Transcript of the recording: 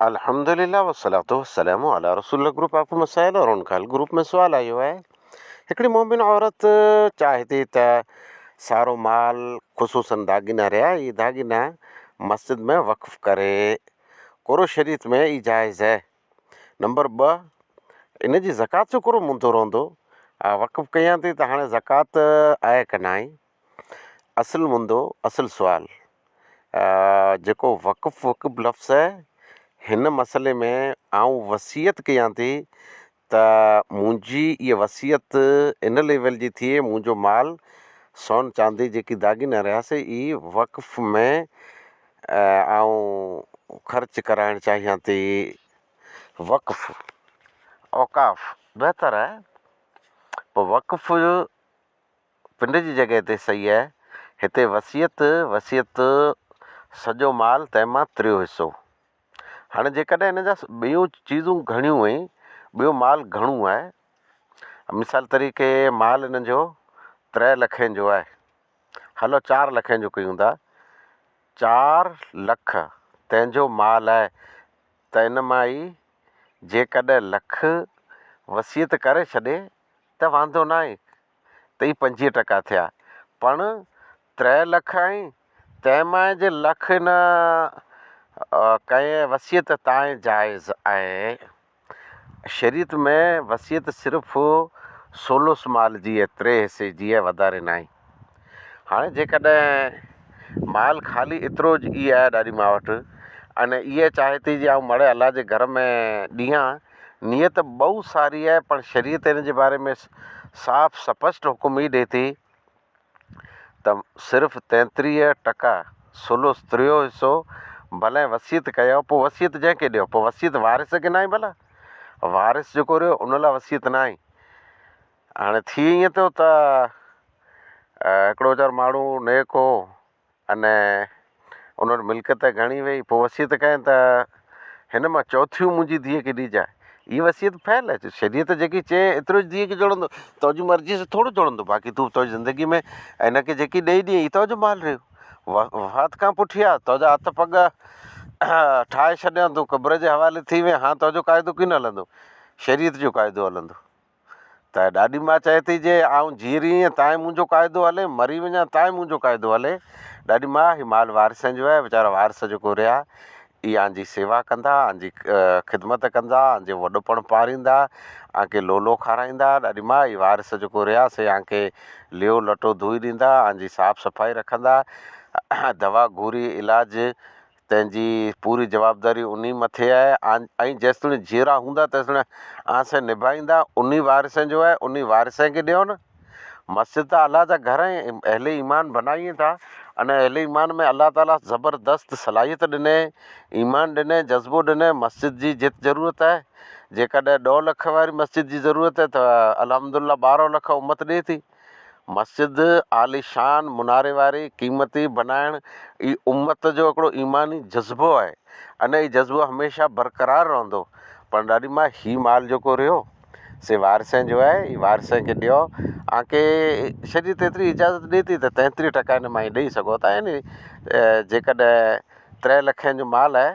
الحمد لله والصلوة والسلام علي رسول الله گروپ آف مسائل اور ان کا حل گروپ ۾ سوال آيو آهي هڪڙي مؤمن عورت چاهي ٿي ته سارو مال خصوصن داڳينا رهيا اهي داڳينا مسجد ۾ وقف ڪري ڪورو شريعت ۾ اهي جائز آهي نمبر ٻه ان جي زڪوات جو ڪورو مندو رهندو وقف ڪيان ٿي ته هاڻي زڪوات آهي ڪنائين اصل مندو اصل سوال جيڪو وقف وقف لفظ آهي هن مسئلي ۾ آئون وصيت ڪيان ٿي ته منهنجي ائي وصيت ان ليول جي ٿئي منهنجو مال سون چاندي جيڪي داڳينا رهيا سي اي وقف ۾ آئون خرچ ڪرائڻ چاهيان ٿي وقف اوقاف بهتر آهي وقف پنڊ جي جڳهه تي سئي آهي، هتي وصيت وصيت سڄو مال تنهن مان تريو حصو. هاڻي جيڪڏهن هن جا ٻيون چيزون گهڻيون ۽ ٻيو مال گهڻو آهي، مثال طريقي مال هن جو تري لکين جو آهي، هلو چار لکين جو ڪيون ٿا، چار لک تنهن جو مال آهي ته ان مان ئي جيڪڏهن لک وصيت ڪري ڇڏي ته واندو ناهي ته هي پنجويهه ٽڪا ٿيا پڻ ترهه لک آهين تنهن مائي جي لک نه ڪئين وصيت تانء جائز آهي شريعت ۾ وصيت صرف ثلث مال جي اي تري حصي جي اي وڌاري ناهي. هاڻي جيڪڏهن مال خالي ايترو ئي آهي ڏاڏي ماء وٽ ان ايئن چاهي ٿي جي آئون مڙهي الله جي گهر ۾ ڏيان نيت ٻئو ساري آهي پر شريعت ان جي باري ۾ صاف سپشٽ حڪم هي ڏي ٿي ته صرف تيتريهه ٽڪا ثلث ٽيون حصو ڀلئين وصيت ڪيو پوء وصيت جنهن کي ڏيو پوء وصيت وارث کي ناهي ڀلا وارث جيڪو رهيو ان لاء وصيت ناهي هاڻي ٿي ائين ٿو ته هڪڙو ويچارو ماڻهو نيڪ هو اني ان وٽ ملڪيت گهڻي هئي پوء وصيت ڪيائين ته هن مان چوٿيون منهنجي ڌيء کي ڏجانء هي وصيت فعل آهي شريعت جيڪي چئي ايترو ڌيء کي جهڙندو تنهنجي مرضي سان ٿورو جهڙندو باقي تون تنهنجي زندگي ۾ هن کي جيڪي ڏئي ڏيئي هي تنهنجو مال رهيو وفات کان پٺيان تنهنجا هٿ پڳ ٺاهي ڇڏيان تون قبر جي حوالي ٿي وئين هاڻ تنهنجو قاعدو ڪين هلندو شريعت جو قاعدو هلندو ته ڏاڏي ماء چئي ٿي جي آئون جيئي رهيين تائين منهنجو قاعدو هلي مري وڃان تائين منهنجو قاعدو هلي ڏاڏي ماء هي مال وارثن جو آهي ويچارا وارث جيڪو رهيا اي آنجي سيوا ڪندا آنجي خدمت ڪندا آنجي وڏپڻ پاريندا آنکي لولو کارائيندا ڏاڏي ماء اي وارث جيڪو رهيا سي آنکي ليو لٽو ڌوئي ڏيندا آنجي صاف صفائي رکندا دوا گوري علاج تنهن جي پوري جوابداري انهي مٿي آهي ۽ جيستوڻي جيئرا هوندا تيستوڻي آن سين نڀائيندا انهي وارثين جو آهي انهي وارثين کي ڏيو نه. مسجد ته الله جا گهر ۽ اهل ايمان بنائين ٿا ان اهل ايمان ۾ الله تعاليٰ زبردست صلاحيت ڏني ايمان ڏني جذبو ڏني مسجد جي جت ضرورت آهي جيڪڏهن ڏهه لک واري مسجد جي ضرورت آهي ته الحمدالله ٻارهن لک امت ڏي ٿي. مسجد عاليشان مناري واري قيمتي بنائڻ ئي امت جو هڪڙو ايماني جذبو آهي ان هي جذبو هميشه برقرار رهندو پر ڏاڏي ماء هي مال جيڪو رهيو سي وارثين جو آهي هي وارثين کي ڏيو آنکي شريعت ايتري اجازت ڏي ٿي ته تيتريهه ٽڪا هن مائي ڏئي سگهو ٿا يعني جيڪڏهن ترهه لکين جو مال آهي